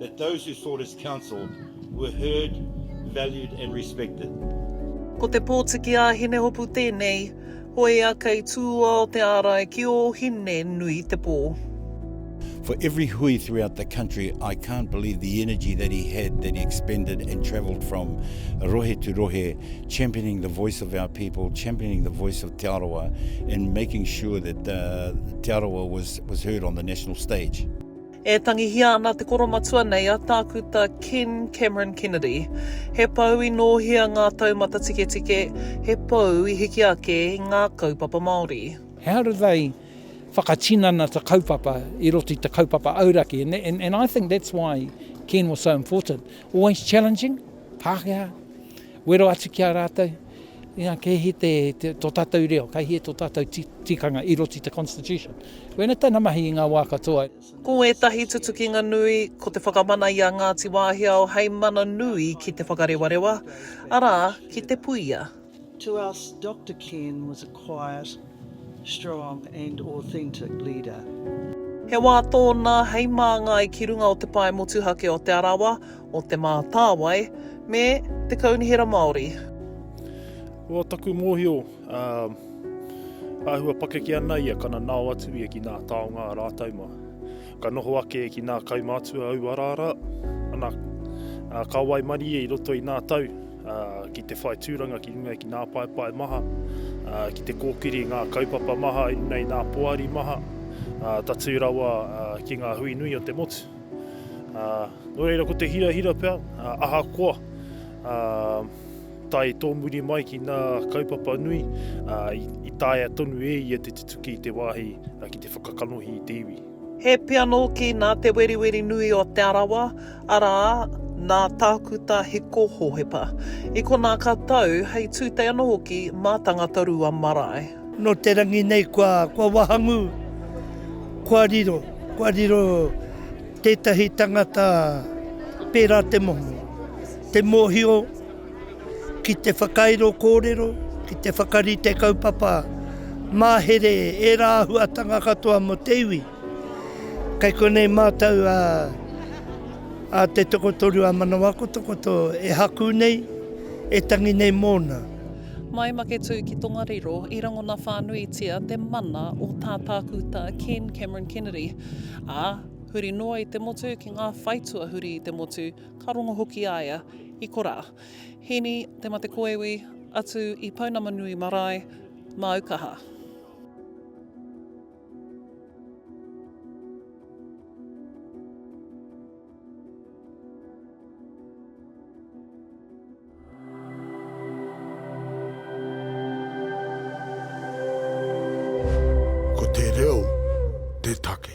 that those who sought his counsel were heard, valued and respected. Ko te pōtiki a Hinehopu tēnei, hoea kei tūoa o te ārai ki ō hine nui te pō. For every hui throughout the country, I can't believe the energy that he had, that he expended and travelled from rohe to rohe, championing the voice of our people, championing the voice of Te Arawa, and making sure that uh, Te Arawa was, was heard on the national stage. E tangihia ana te koromatua nei a Tākuta Ken Cameron Kennedy. He pou i nōhia ngā taumata tiketike, he pou i hiki ake i ngā kaupapa Māori. He harawhai whakatinana te kaupapa i roto i te kaupapa auraki and and and I think that's why Ken was so important. Always challenging, Pākehā, wero atu ki a rātou. Inga kei hi te, te, to tatou reo, kei hi e to tatou tikanga i roti te Constitution. Wena tana mahi i nga wa katoa. Ko ētahi tutukinga nui, ko te whakamana i a Ngāti Wāhiao hei mana nui ki Te Whakarewarewa, arā, ki Te Puia. To us, Doctor Ken was a quiet, strong and authentic leader. He wā tōna hei māngai ki runga o te pae motuhake o Te Arawa, o Te Mātāwai me Te Kaunihera Māori. Ko taku mōhio, āhua pakeke ana ia ka nanao atu ia ki nā taonga a rātou mā. Ka noho ake ki nā kaumātua au araara ana, ka waimarie i roto i nā tau ki te whai tūranga ki runga ki nā paepae maha, ki te kōkiri ngā kaupapa maha i runga i nā poari maha, tatū rawa ki ngā hui nui o te motu. Ā, nō reira ko te hirahira pea, ā, ahakoa, ā, tae tōmuri mai ki ngā kaupapa nui, ā, i, i taea tonu e ia te tutuki i te wāhi ki te whakakanohi i te iwi. He pia nōki nā Te Weriwerinui o Te Arawa, arā, nā Tākuta Hiko Hohepa. I konā ka tau, hei tūtei anō hoki mā Tangatarua marae. Nō te rangi nei kua wahangu, kua riro, kua riro tētahi tangata pērā te moho. Te mōhio ki te whakairo kōrero, ki te whakarite kaupapa, mahere ērā āhuatanga katoa mō te iwi. Kei konei mātou a te tokotoru a Manawakotokoto e haku nei, e tangi nei mōna. Mai Maketū ki Tongariro i rangona whānuitia te mana o tā Tākuta Ken Cameron Kennedy, ā, huri noa i te motu ki ngā whaitua huri i te motu, ka rongo hoki a ia i korā. Hīni te mate koiwi, atu i Pounamanui marae, māu kaha. Ko te reo te take.